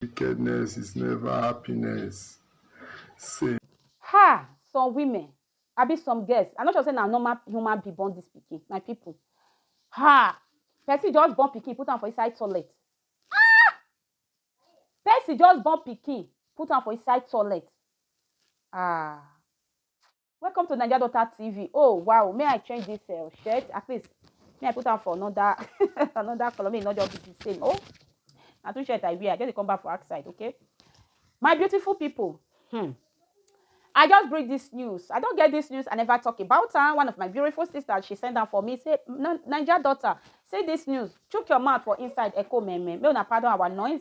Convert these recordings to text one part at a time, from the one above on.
Wickedness is never happiness. Say. Ha! Some women, abi some girls, I no sure say na normal human being born this pikin, my people. Ha! Person just born pikin, put am for inside toilet. Ah! Person just born pikin, put am for inside toilet. Ah! Welcome to Naija Daughter TV. Oh wow, may I change this uh, shirt? At least may I put on for another another color. May not just be the same. Oh, na two shirt I wear. I just come back for outside. Okay, my beautiful people. Hmm. I just bring this news. I don't get this news. I never talk about her. One of my beautiful sisters, she sent down for me. Say, Niger daughter, say this news. Chook your mouth for inside Echo Meme. May una pardon our noise.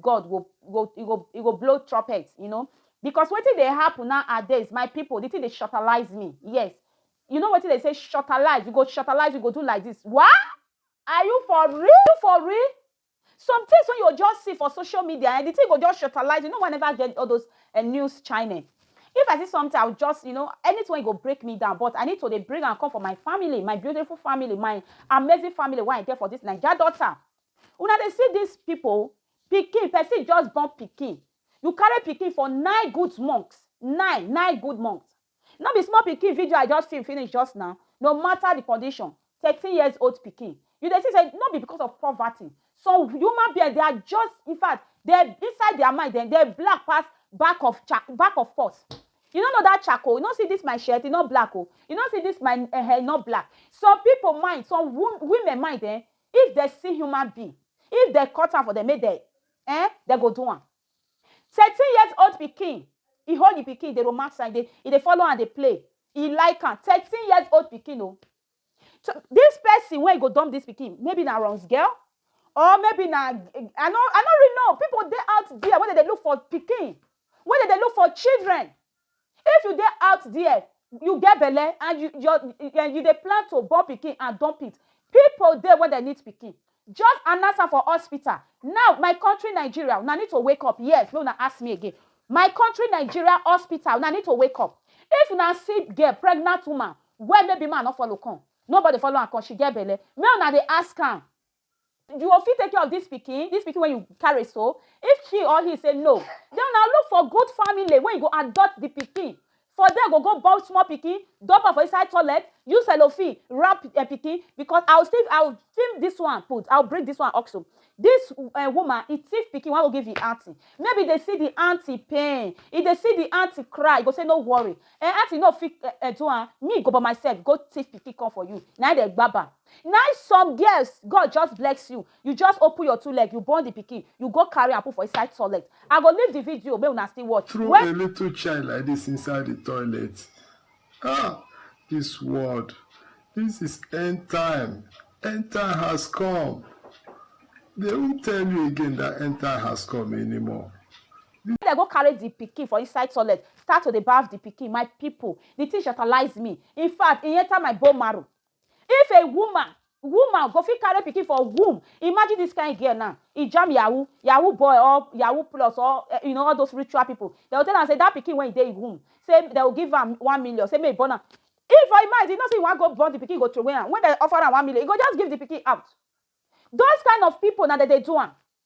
God go go he go he go blow trumpet, you know. Because wetin dey happen now are days, my people, the thing dey shortalize me. Yes. You know wetin they say shortalize, you go shortalize, you go do like this. What? Are you for real? For real? Some things when you just see for social media and eh, the thing go just shortalize. You know, whenever I get all those uh, news channel, if I see something, I'll just, you know, anything go break me down. But I need to they bring and come for my family, my beautiful family, my amazing family, why I get for this Niger daughter. Una dey see dis people, pikin, person just born pikin. You carry pikin for nine good months, nine, nine good months. No be small pikin video I just film finish just now, no matter the condition, thirteen years old pikin. You dey see say no be because of poverty. Some human being, they are just, in fact, they, inside their mind, they, they black pass back of cha, back of pot. You no know that charcoal, you no see this my shirt, e no black o. You no see this my eh, eh, e no black. Some people mind, some wo, women mind eh, If dem see human being, if dem cut am for dem make dem eh, dem go do am. Thirteen years old pikin, e hold the pikin dey romance am, e dey follow am dey play, e like am, thirteen years old pikin o. So this person wey go dump this pikin maybe na runs girl or maybe na I no I no really know, people dey out there wey dem dey look for pikin, wey dem dey look for children. If you dey out there, you get belle and you your and you dey plan to born pikin and dump it, people dey wey dem need pikin, just announce am for hospital now, my country Nigeria una need to wake up, yes, make una ask me again, my country Nigeria hospital una need to wake up, if una see girl, pregnant woman, wey maybe man no follow come, nobody follow am come, she get belle, make una dey ask am, You go fit take care of this pikin, this pikin wey you carry so? If she or he say no, then una look for good family wey go adopt the pikin. For there go go born small pikin, dump am for inside toilet, use cellophane wrap uh, pikin because I will still I will film this one put, I will bring this one also. This uh, woman, he thief pikin, wan go give him auntie. Maybe they see the auntie pain, if they see the auntie cry, he go say no worry. Uh, auntie no fit uh, uh, do am, me go by myself go thief pikin come for you. Na they gbaba. Nai some girls God just blex you, you just open your two leg you born the pikin you go carry am put for inside toilet I go leave the video make una still watch Throw when a little child like this inside the toilet ah this world this is end time end time has come they won't tell you again that end time has come anymore this. Dem go carry the pikin for inside toilet start to dey baff the pikin my people the thing shatalize me infact e enter my bone marrow. If a woman woman go fit carry pikin for womb imagine this kind girl now e jam yahoo yahoo boy or yahoo plus or eh, you know all those ritual people they go tell am say that pikin when e dey womb say they go give am one million say make e born am if for im mind you know say you wan go born the pikin go throway am when they offer am one million e go just give the pikin out those kind of people na dem dey do am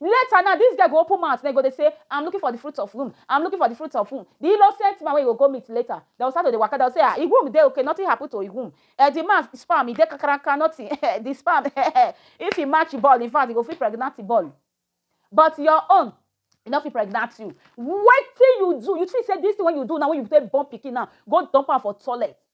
Later now, this girl go open mouth, then go dey say, I'm looking for the fruit of womb, I'm looking for the fruit of womb. The innocent man wey you go go meet later, dem go start to dey waka, dem go say, ah, im womb dey okay, nothing happen to im womb. Eh, the man sperm, e dey kakaraka, nothing, eh, the sperm, eh, eh, if e match ball, in fact, e go fit pregnant the ball. But your own, e no fit pregnant you. Wetin you do? You think say this thing wey you do now, wey you take born pikin now, go dump am for toilet,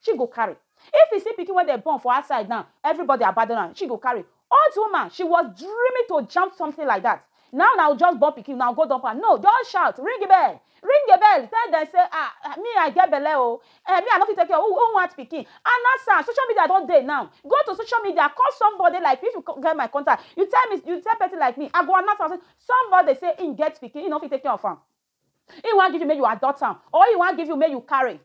she go carry. If you see pikin wey dem born for outside now, everybody abandon am, she go carry. Old woman, she was dreaming to jump something like that. Now na u just born pikin, una go dump am? No, just shout, ring bell! Ring a bell! Tell dem say, ah, me I get belle o, eh, me I no fit take care o, who want pikin? Announce am, social media don dey now, go to social media, call somebody like me, if you get my contact, you tell me, you tell person like me, I go announce am say somebody say im get pikin, im no fit take care of am, im wan give you make you adopt am or im wan give you make you carry.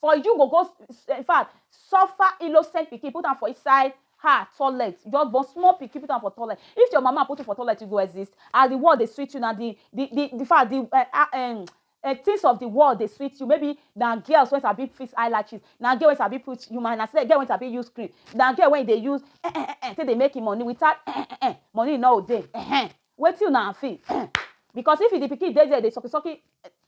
for you go go in fact suffer innocent pikin put am for inside her toilet just born small pikin put am for toilet if your mama put you for toilet you go exist as the world dey sweet you na the the the the fact the uh, uh, um, uh, things of the world dey sweet you maybe na girls wey sabi fix eyelashes na girl wey sabi put human na girl wey sabi use cream na girl wey dey use eh eh eh, eh take dey make im money without eh eh eh, eh money no dey eh, eh Wetin una and fim eh because if the pikin dey there dey sucky sucky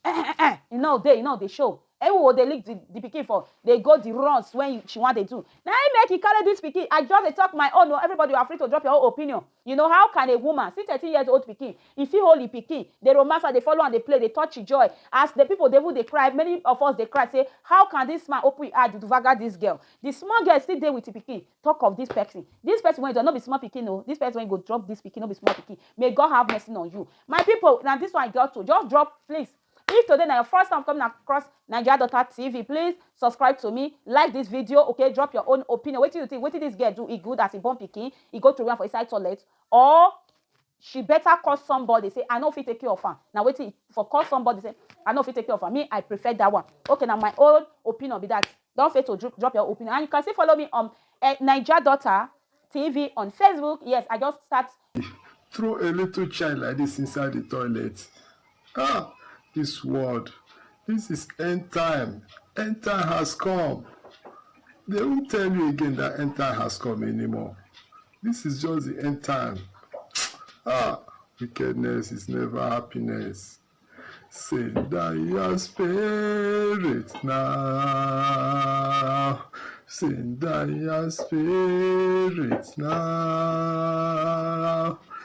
eh eh eh e no dey e no dey show eh u go dey lick the the pikin for dey go the runs when you she wan dey do na him make e carry this pikin I just dey talk my own o everybody you are free to drop your own opinion you know how can a woman see thirteen years old pikin e fit hold e pikin dey romance am dey follow am dey play dey touch e joy as the people dey even dey cry many of us dey cry say how can this man open e eye to dvaga this girl the small girl still dey with e pikin talk of this person this person wey drop no be small pikin o this person wey go drop this pikin no be small pikin may god have mercy on you my people na this one i got to just drop please if today na your first time coming across nigeria daughter tv please subscribe to me like this video okay drop your own opinion wetin you think wetin this girl do e good as e born pikin e go throway am for inside toilet or She better call somebody say I no fit take care of am. Na wetin for call somebody say I no fit take care of am. Me I prefer that one. Okay na my own opinion be that. Don't fail to dro- drop your opinion. And you can still follow me on eh, Niger Daughter TV on Facebook. Yes, I just start Throw a little child like this inside the toilet. Ah this world this is end time end time has come they won't tell you again that end time has come anymore this is just the end time ah wickedness is never happiness say that your spirit now send that your spirit now